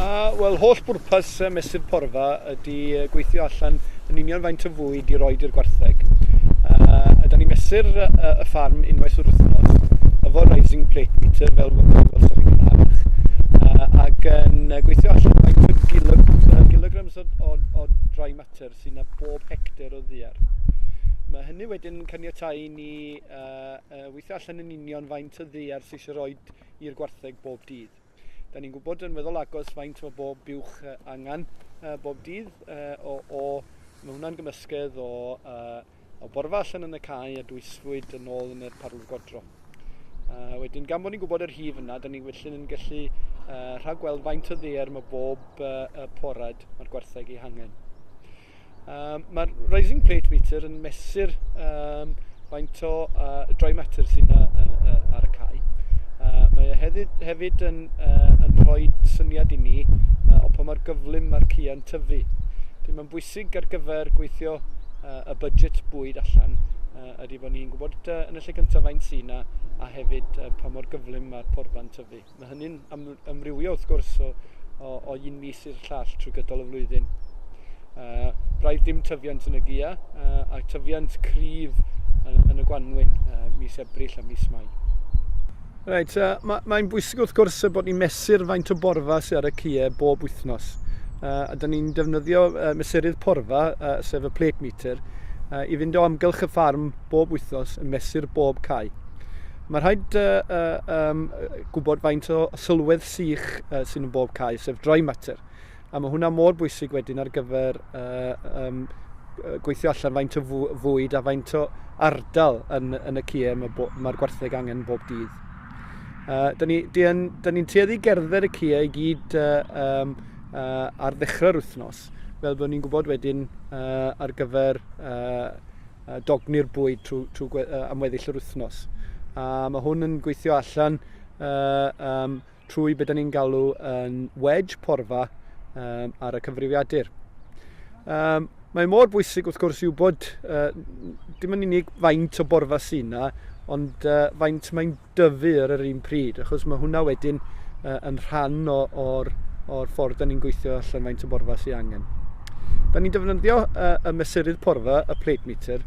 A, wel, holl bwrpas y mesur porfa ydy gweithio allan yn union faint o fwyd i roi i'r gwartheg. Uh, ydy ni mesur uh, y ffarm unwaith o'r wythnos, efo rising plate meter fel welsoch chi'n Gymraeg, uh, ac yn gweithio allan faint o gilog, uh, kilograms o, o, o dry matter sy'n na bob hectare o ddiar. Mae hynny wedyn yn caniatau i ni uh, uh, weithio allan yn union faint o ddiar sy'n eisiau rhoi i'r gwartheg bob dydd. Da ni'n gwybod yn weddol agos faint o bob buwch angen bob dydd o, o mae hwnna'n gymysgedd o, uh, o borfa allan yn y cae a dwysfwyd yn ôl yn y parlwr godro. Uh, wedyn, gan bod ni'n gwybod yr hif yna, da ni felly yn gallu uh, rhagweld faint o ddeer mae bob uh, porad mae'r gwartheg ei hangen. Um, Mae'r rising plate meter yn mesur um, faint o uh, dry matter sy'n uh, uh, ar y cae. Uh, mae e hefyd, hefyd yn, uh, yn rhoi syniad i ni uh, o pa mae'r gyflym mae'r cian tyfu. Dwi'n mae'n bwysig ar gyfer gweithio uh, y budget bwyd allan uh, ydy bod ni'n gwybod uh, yn y lle cyntaf faint sy'n a, a hefyd uh, pa mor gyflym mae'r porfa'n tyfu. Mae hynny'n amrywio wrth gwrs o, o, o un mis i'r llall trwy gydol y flwyddyn. Uh, braidd dim tyfiant yn y gia uh, a tyfiant cryf yn, yn y gwanwyn uh, mis Ebrill a mis Mai. Reit, uh, mae'n mae bwysig wrth gwrs y bod ni'n mesur faint o borfa sydd ar y cie bob wythnos. Uh, a dyn ni'n defnyddio uh, mesurydd porfa, uh, sef y plate meter, uh, i fynd o amgylch y ffarm bob wythnos yn mesur bob cae. Mae rhaid uh, uh, um, gwybod faint o sylwedd sych uh, sy'n yn bob cae, sef dry matter. A mae hwnna mor bwysig wedyn ar gyfer uh, um, gweithio allan faint o fwyd a faint o ardal yn, yn y cie mae'r ma gwartheg angen bob dydd. Uh, da ni'n ni, ni, ni tueddu gerdded y cie i gyd uh, um, uh, ar ddechrau'r wythnos, fel bod ni'n gwybod wedyn uh, ar gyfer uh, dogni'r bwyd trwy, trwy uh, am weddill yr wythnos. A mae hwn yn gweithio allan uh, um, trwy beth ni'n galw yn wedge porfa um, ar y cyfrifiadur. Um, mae mor bwysig wrth gwrs i wybod uh, dim yn unig faint o borfa sy'n yna, ond uh, faint mae'n dyfu ar yr un pryd, achos mae hwnna wedyn uh, yn rhan o'r or ffordd da ni'n gweithio allan faint o borfa sy'n angen. Da ni'n defnyddio uh, y mesurydd porfa, y plate meter.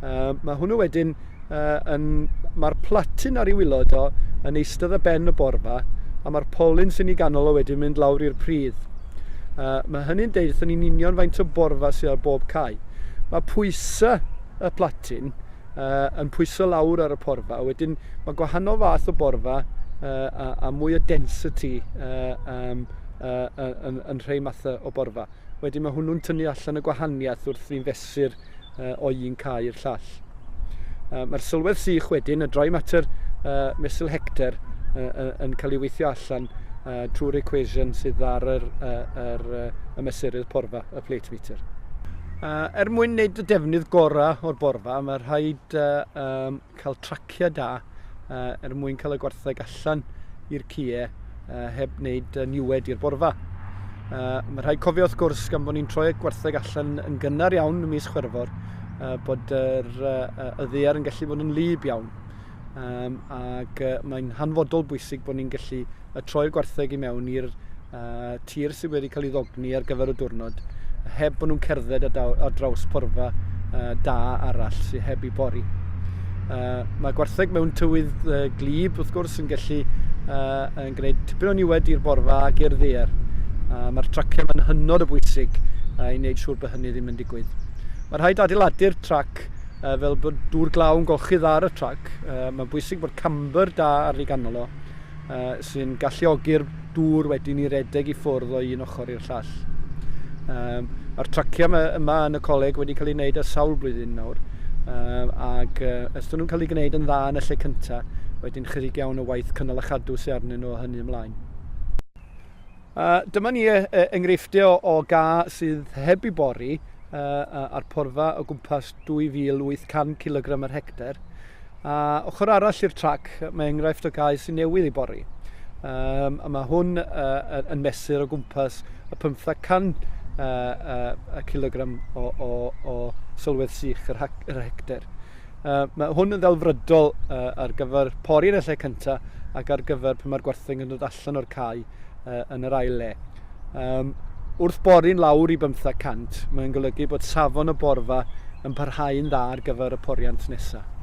Uh, mae hwnnw wedyn, uh, yn, mae'r platin ar ei wylod o yn eistedd y ben y borfa, a mae'r polyn sy'n ei ganol o wedyn mynd lawr i'r pridd. Uh, mae hynny'n deud wrthyn ni'n union faint o borfa sy'n ar bob cae. Mae pwysau y platin uh, yn pwyso lawr ar y porfa. Wedyn mae gwahanol fath o borfa uh, a, a mwy o density uh, um, uh, yn, yn rhai mathau o borfa. Wedyn mae hwnnw'n tynnu allan y gwahaniaeth wrth ni'n fesur uh, o un cae i'r llall. Uh, Mae'r sylwedd sych wedyn, y dry matter uh, mesul hector, uh, yn cael ei weithio allan uh, trwy'r equation sydd ar yr, uh, yr, uh, y mesurydd porfa, y plate meter. Uh, er mwyn wneud y defnydd gorau o'r borfa, mae rhaid uh, um, cael traciau da uh, er mwyn cael y gwartheg allan i'r cie uh, heb wneud uh, niwed i'r borfa. Uh, mae rhaid cofio wrth gwrs gan bod ni'n troi y gwartheg allan yn gynnar iawn y mis chwerfor uh, bod yr uh, y ddear yn gallu bod yn lyb iawn um, ac uh, mae'n hanfodol bwysig bod ni'n gallu a troi'r gwartheg i mewn i'r uh, tir sydd wedi cael ei ddogni ar gyfer y diwrnod, heb bod nhw'n cerdded ar draws porfa uh, da arall sydd heb ei bori. Uh, mae gwartheg mewn tywydd uh, glib, wrth gwrs, yn gallu uh, yn gwneud tipyn o niwed i'r borfa ac i'r ddeer. Uh, Mae'r traciau yn hynod o bwysig uh, i wneud siŵr bod hynny ddim yn digwydd. Mae rhaid adeiladu'r trac uh, fel bod dŵr glaw yn golchydd ar y trac. Uh, Mae'n bwysig bod camber da ar ei ganol o. uh, sy'n galluogi'r dŵr wedyn i redeg i ffwrdd o un ochr i'r llall. Um, Mae'r traciau yma yn y coleg wedi cael ei wneud ar sawl blwyddyn nawr, um, ac uh, ystod nhw'n cael ei gwneud yn dda yn y lle cyntaf, wedyn chydig iawn o waith cynnal a chadw sy'n arnyn nhw o hynny ymlaen. Uh, dyma ni uh, enghreifftiau o, o ga sydd heb i bori uh, a'r porfa o gwmpas 2800 kg ar hectare. A ochr arall i'r trac, mae enghraifft o gae sy'n newydd i bori. Um, a mae hwn uh, yn mesur o gwmpas y 500 uh, uh, kilogram o, o, o sylwedd sych yr, yr hector. Uh, mae hwn yn ddelfrydol uh, ar gyfer pori yn y lle cyntaf ac ar gyfer pan mae'r gwartheg yn dod allan o'r cae uh, yn yr ail le. Um, wrth bori'n lawr i 500, mae'n golygu bod safon y borfa yn parhau'n dda ar gyfer y poriant nesaf.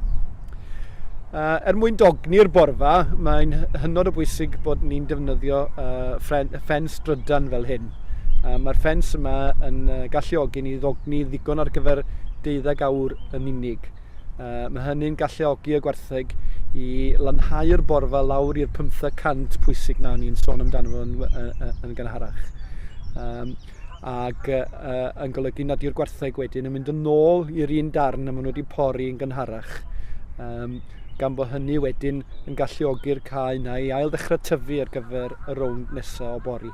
Uh, er mwyn dogni'r borfa, mae'n hynod o bwysig bod ni'n defnyddio uh, ffens drydan fel hyn. Uh, Mae'r ffens yma yn uh, galluogi ni ddogni ddigon ar gyfer deuddeg awr yn unig. Uh, mae hynny'n galluogi y gwartheg i lanhau'r borfa lawr i'r 500 pwysig na ni'n sôn amdano fo yn, yn, yn gynharach. Um, ac uh, yn golygu nad yw'r gwartheg wedyn yn mynd yn ôl i'r un darn y maen nhw wedi pori yn gynharach. Um, gan bod hynny wedyn yn galluogi'r cae yna i ail ddechrau tyfu ar gyfer y rownd nesaf o bori.